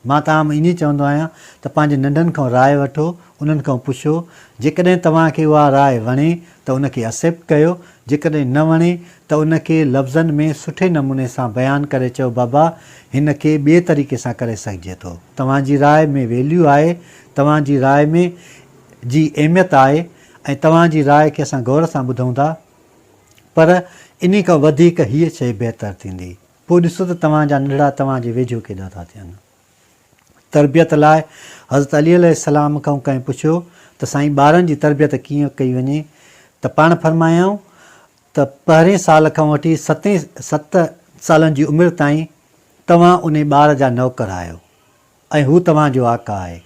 مان توهان ۾ ائين چوندو آهيان ته پنهنجي ننڍن کان راء وٺو، انهن کان پڇو، جيڪڏهن توهان کي اها راء وڻي ته ان کي Accept ڪيو، جيڪڏهن نه وڻي ته ان کي لفظن ۾ سٺي نموني سان بيان ڪري چئو بابا هن کي ٻئي طريقي سان ڪري سگهجي ٿو، توهان جي راء ۾ Value آهي، توهان جي راء ۾ جي اهميت آهي ۽ توهان جي راء کي اسان غور سان ٻڌون ٿا پر انهي کان وڌيڪ هيء شيء بهتر ٿيندي. پوء ڏسو ته توهان جا ننڍڙا توهان جي ويجهو ڪيڏا ٿا ٿين. تربيت لاء حضرت علي عليه السلام کان ڪنهن پڇيو ته سائين ٻارن جي تربيت ڪيئن ڪئي وڃي ته پاڻ فرمايائون ته پهرئين سال کان وٺي ستين ست سالن جي عمر تائين توهان انهي ٻار جا نوڪر آهيو. ۽ هو توهان جو آقا آهي.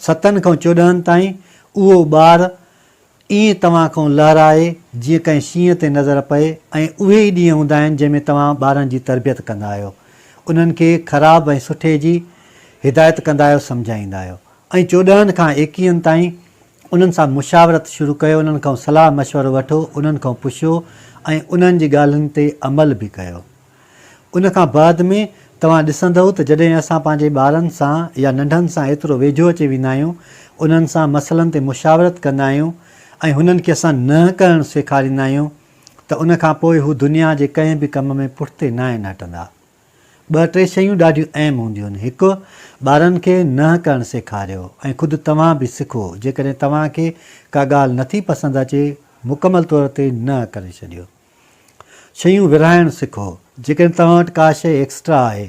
ستن کان چوڏهن تائين اهو ٻار ائين توهان کان لهرائي جيئن ڪنهن شينهن تي نظر پئي ۽ اهي ئي ڏينهن هوندا آهن جنهن ۾ توهان ٻارن جي تربيت ڪندا آهيو. انهن کي خراب ۽ سٺي جي هدايت ڪندا آهيو سمجهائيندا آهيو ۽ چوڏهن کان ايڪيهن تائين انهن سان مشاورت شروع ڪيو انهن کان صلاح مشورو وٺو انهن کان پڇو ۽ انهن جي ڳالهين تي عمل به ڪيو. ان کان بعد ۾ توهان ڏسندؤ ته جڏهن اسان پنهنجي ٻارن سان يا ننڍن سان ايترو ويجهو اچي ويندا آهيون، انهن سان مسئلن تي مشاورت ڪندا آهيون ۽ هنن کي اسان نه ڪرڻ سيکاريندا آهيون ته ان کان پوء هو دنيا جي ڪنهن به ڪم ۾ پٺتي ناهن هٽندا. ٻه ٽي شيون ڏاڍيون اهم هونديون آهن. هڪ، ٻارن کي نه ڪرڻ سيکاريو ۽ خود توهان به سکو. جيڪڏهن توهان کي ڪا ڳالهه نٿي پسند اچي، مڪمل طور تي نه ڪري ڇڏيو. شيون ورهائڻ سکو، جيڪڏهن توهان وٽ ڪا شيء ايڪسٽرا آهي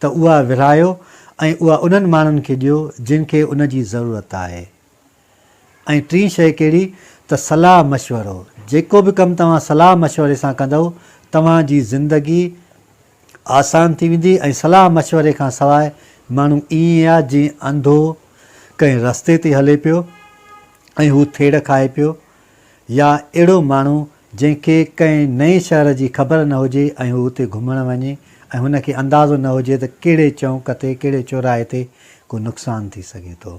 ته اها ورهايو ۽ اها انهن ماڻهن کي ڏيو جن کي ان جي ضرورت آهي ۽ ٽين شيء ڪهڙي ته صلاح مشورو، جيڪو به ڪم توهان صلاح مشوري سان ڪندؤ توهان جي زندگي آسان ٿي ويندي ۽ صلاح مشوري کان سواء ماڻهو ائين آ جيئن انڌو ڪنهن رستي تي هلي پيو ۽ هو ٿيڙ کائي پيو يا اهڙو ماڻهو جنهن کي ڪنهن نئين شهر جي خبر نه هجي ۽ هو اتي گهمڻ وڃي ۽ هن کي اندازو نه هجي ته ڪهڙي چونڪ تي ڪهڙي چوراهي تي ڪو نقصان ٿي سگهي ٿو.